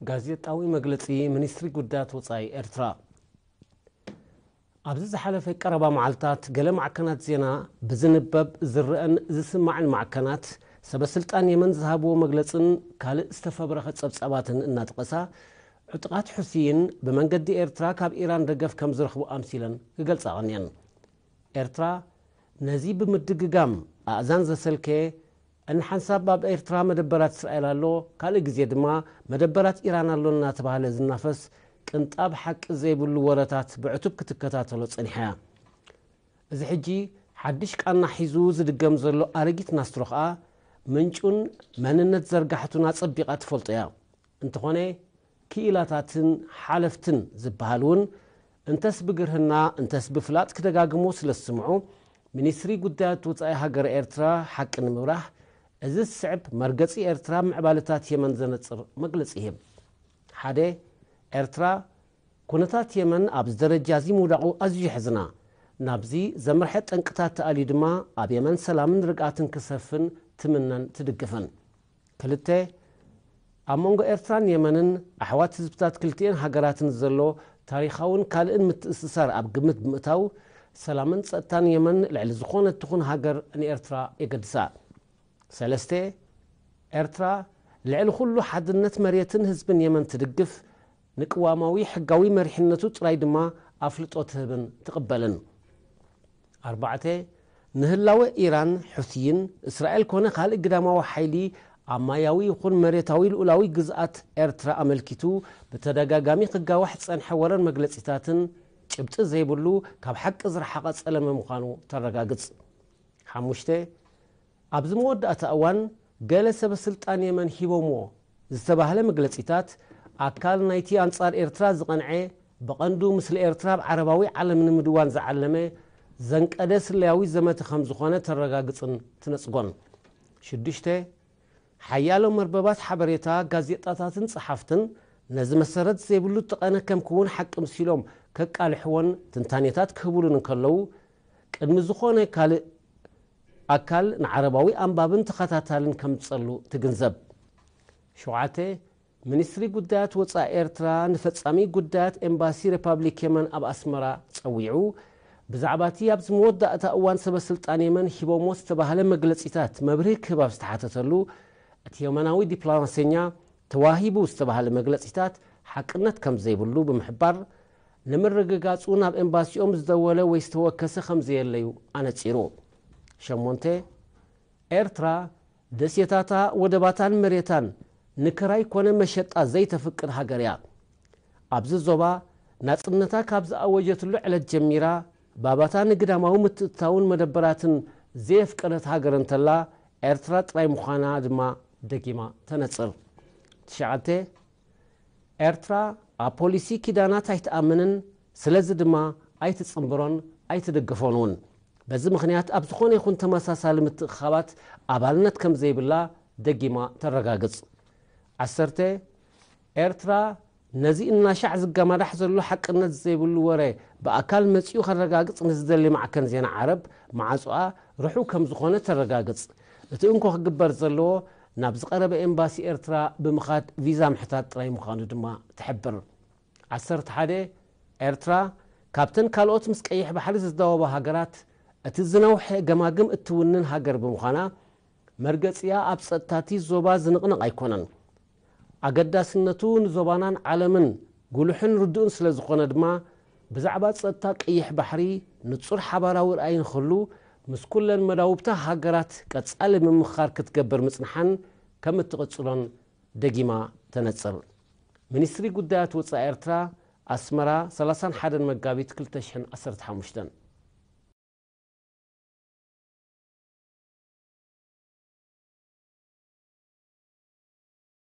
ጋዜጣዊ መግለጺ ሚኒስትሪ ጉዳያት ወጻኢ ኤርትራ ኣብዚ ዝሓለፈ ቀረባ መዓልታት ገለ ማዕከናት ዜና ብዝንበብ ዝረአን ዝስማዕን ማዕከናት ሰበ ስልጣን የመን ዝሃብዎ መግለጽን ካልእ ዝተፈብረኸ ጸብጻባትን እናጠቐሳ ዕጡቓት ሑሲይን ብመንገዲ ኤርትራ ካብ ኢራን ደገፍ ከም ዝረኽቡ ኣምሲለን ክገልጻ ቀንየን ኤርትራ ነዚ ብምድግጋም ኣእዛን ዘሰልከየ እንሓንሳብ ኣብ ኤርትራ መደበራት እስራኤል ኣሎ፣ ካልእ ግዜ ድማ መደበራት ኢራን ኣሎ እናተባህለ ዝናፈስ ቅንጣብ ሓቂ ዘይብሉ ወረታት ብዕቱብ ክትከታተሎ ጸኒሓ እያ። እዚ ሕጂ ሓድሽ ቃና ሒዙ ዝድገም ዘሎ ኣረጊት ናስትሮ ከኣ ምንጩን መንነት ዘርጋሕቱን ኣጸቢቓ ትፈልጦ እያ። እንተኾነ ክኢላታትን ሓለፍትን ዝበሃል እውን እንተስ ብግርህና እንተስ ብፍላጥ ክደጋግሙ ስለ ዝስምዑ፣ ሚኒስትሪ ጉዳያት ወጻኢ ሃገረ ኤርትራ ሓቂ ንምብራህ እዚ ዝስዕብ መርገጺ ኤርትራ ምዕባለታት የመን ዘነጽር መግለጺ ይህብ። ሓደ፣ ኤርትራ፣ ኩነታት የመን ኣብዚ ደረጃዚ ምውዳቑ ኣዝዩ የሕዝና። ናብዚ ዘምርሐ ጠንቅታት ተኣልዩ ድማ ኣብ የመን ሰላምን ርግኣትን ክሰፍን ትምነን ትድግፍን። ክልተ፣ ኣብ መንጎ ኤርትራን የመንን ኣሕዋት ህዝብታት ክልቲኤን ሃገራትን ዘሎ ታሪኻውን ካልእን ምትእስሳር ኣብ ግምት ብምእታው፣ ሰላምን ጸጥታን የመን ልዕሊ ዝኾነት ትኹን ሃገር ንኤርትራ የገድሳ። ሰለስተ፣ ኤርትራ ልዕሊ ኩሉ ሓድነት መሬትን ህዝብን የመን ትድግፍ፣ ንቅዋማዊ ሕጋዊ መሪሕነቱ ጥራይ ድማ ኣፍልጦ ትህብን ትቕበልን። ኣርባዕተ፣ ንህላወ ኢራን፣ ሑቲይን፣ እስራኤል ኮነ ካልእ ግዳማዊ ሓይሊ ኣብ ማያዊ ይኹን መሬታዊ ልኡላዊ ግዝኣት ኤርትራ ኣመልኪቱ ብተደጋጋሚ ክጋዋሕ ዝጸንሐ ወረን መግለጺታትን ጭብጢ ዘይብሉ ካብ ሓቂ ዝረሓቐ ጸለመ ምዃኑ ተረጋግጽ። ሓሙሽተ፣ ኣብዚ መወዳእታ እዋን ገለ ሰበስልጣን የመን ሂቦምዎ ዝተባህለ መግለጺታት፣ ኣካል ናይቲ ኣንጻር ኤርትራ ዝቐንዐ ብቐንዱ ምስሊ ኤርትራ ኣብ ዓረባዊ ዓለም ንምድዋን ዝዓለመ ዘንቀደ ስለያዊ ዘመተ ከም ዝኾነ ተረጋግጽን ትነጽጎን። ሽዱሽተ። ሓያሎ መርበባት ሓበሬታ፣ ጋዜጣታትን ጸሓፍትን ነዚ መሰረት ዘይብሉ ጠቐነ ከም ክውን ሓቂ ምሲሎም ከቃልሕዎን ትንታኔታት ክህቡሉን እንከለዉ፣ ቅድሚ ዝኾነ ካልእ ኣካል ንዓረባዊ ኣንባብን ተኸታታልን ከምጸሉ ትግንዘብ። ሸውዓተ፣ ሚኒስትሪ ጉዳያት ወጻኢ ኤርትራ ንፈጻሚ ጉዳያት ኤምባሲ ረፓብሊክ የመን ኣብ ኣስመራ ጸዊዑ ብዛዕባ'ቲ ኣብዚ መወዳእታ እዋን ሰበስልጣን የመን ሂቦሞ ዝተባህለ መግለጺታት መብርሂ ክህብ ኣብ ዝተሓተተሉ እቲ የመናዊ ዲፕላማሰኛ ተዋሂቡ ዝተባህለ መግለጺታት ሓቅነት ከምዘይብሉ ብምሕባር ንምርግጋጹ ናብ ኤምባሲኦም ዝደወለ ወይ ዝተወከሰ ከምዘየለ'ዩ ኣነጺሩ። ሸሞንተ፣ ኤርትራ ደሴታታ፣ ወደባታን መሬታን ንክራይ ኮነ መሸጣ ዘይተፍቅድ ሃገር'ያ። ኣብዚ ዞባ ናጽነታ ካብ ዝኣወጀትሉ ዕለት ጀሚራ ባባታ ንግዳማዊ ምትእትታውን መደበራትን ዘየፍቀደት ሃገር እንተላ ኤርትራ ጥራይ ምዃና ድማ ደጊማ ተነጽር። ትሽዓተ፣ ኤርትራ ኣብ ፖሊሲ ኪዳናት ኣይትኣምንን፣ ስለዚ ድማ ኣይትጽንብሮን ኣይትድግፎን እውን። በዚ ምኽንያት ኣብ ዝኾነ ይኹን ተመሳሳሊ ምትእኽኻባት ኣባልነት ከም ዘይብላ ደጊማ ተረጋግጽ። ዓሰርተ፣ ኤርትራ ነዚ እናሻዕ ዝገማዳሕ ዘሎ ሓቅነት ዘይብሉ ወረ ብኣካል መጺኡ ከረጋግጽ ንዝደሊ ማዕከን ዜና ዓረብ ማዕጾኣ ርሑው ከም ዝኾነ ተረጋግጽ። እቲ እንኮ ክግበር ዘለዎ ናብ ዝቐረበ ኤምባሲ ኤርትራ ብምኻድ ቪዛ ምሕታት ጥራይ ምዃኑ ድማ ትሕብር። ዓሰርተ ሓደ፣ ኤርትራ፣ ካብተን ካልኦት ምስ ቀይሕ ባሕሪ ዝዳወባ ሃገራት እቲ ዝነውሐ ገማግም እትውንን ሃገር ብምዃና፣ መርገጺኣ ኣብ ጸጥታ'ቲ ዞባ ዝንቕነቕ ኣይኮነን። ኣገዳስነቱ ንዞባናን ዓለምን ጉሉሕን ርዱእን ስለዝኾነ ድማ ብዛዕባ ጸጥታ ቀይሕ ባሕሪ ንጹር ሓባራዊ ራእይ ንኽህሉ ምስ ኩለን መዳውብታ ሃገራት ቀጻሊ ምምኽኻር ክትገብር ምጽንሓን ከም እትቕጽሎን ደጊማ ተነጽር። ሚኒስትሪ ጉዳያት ወጻኢ ኤርትራ፣ ኣስመራ፣ ሰላሳን ሓደን መጋቢት ክልተ ሽሕን ዓሰርተ ሓሙሽተን።